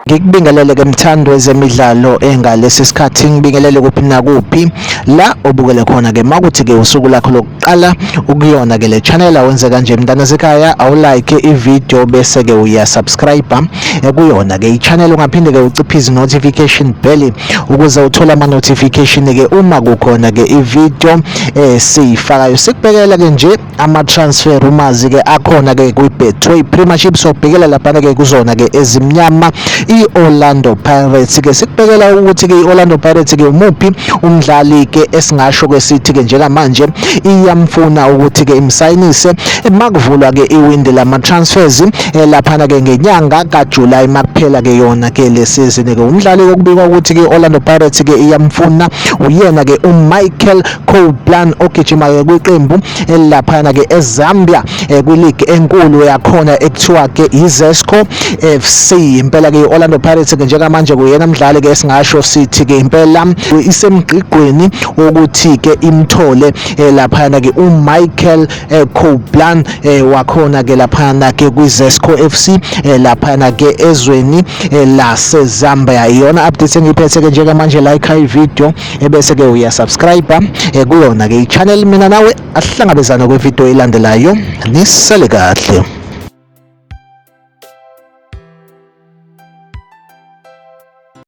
ngikubingelele ke mthando wezemidlalo engalesi sikhathi ngibingelele kuphi nakuphi la obukele khona ke makuthi ke usuku lakho qala ukuyona ke le channel awenze kanje mntana sekhaya awulike ivideo bese ke uyasubscribe ekuyona ke ichannel ungaphinde ke uciphize notification bell ukuze uthole ama notification ke uma kukhona ke ivideo esiyifakayo eh, sikubhekela ke nje ama transfer rumors ke akhona ke kwi Betway Premiership sobhekela lapha ke kuzona ke ezimnyama i Orlando Pirates ke sikubhekela ukuthi ke i Orlando Pirates ke umuphi umdlali ke esingasho ke sithi ke njengamanje iyamfuna ukuthi ke imsayinise makuvulwa ke iwindi lama transfers eh, laphana ke ngenyanga kaJuly makuphela ke yona ke le season ke umdlali okubikwa ukuthi ke Orlando Pirates ke iyamfuna uyena ke uMichael Copeland ogijima ke kwiqembu laphana ke eZambia eh, kwileague enkulu yakhona ekuthiwa ke iZesco FC impela ke Orlando Pirates ke njengamanje kuyena mdlali ke singasho sithi ke impela isemgqigqweni wokuthi ke imthole eh, laphana ke uMichael eh, Couplan wakhona ke laphana ke kwiZesco FC laphana ke ezweni laseZambia iyona update engiphethe ke njengamanje like i video ebese-ke uyasubscribe eh, kuyona-ke i-channel mina nawe asihlangabezana kwividiyo elandelayo nisale kahle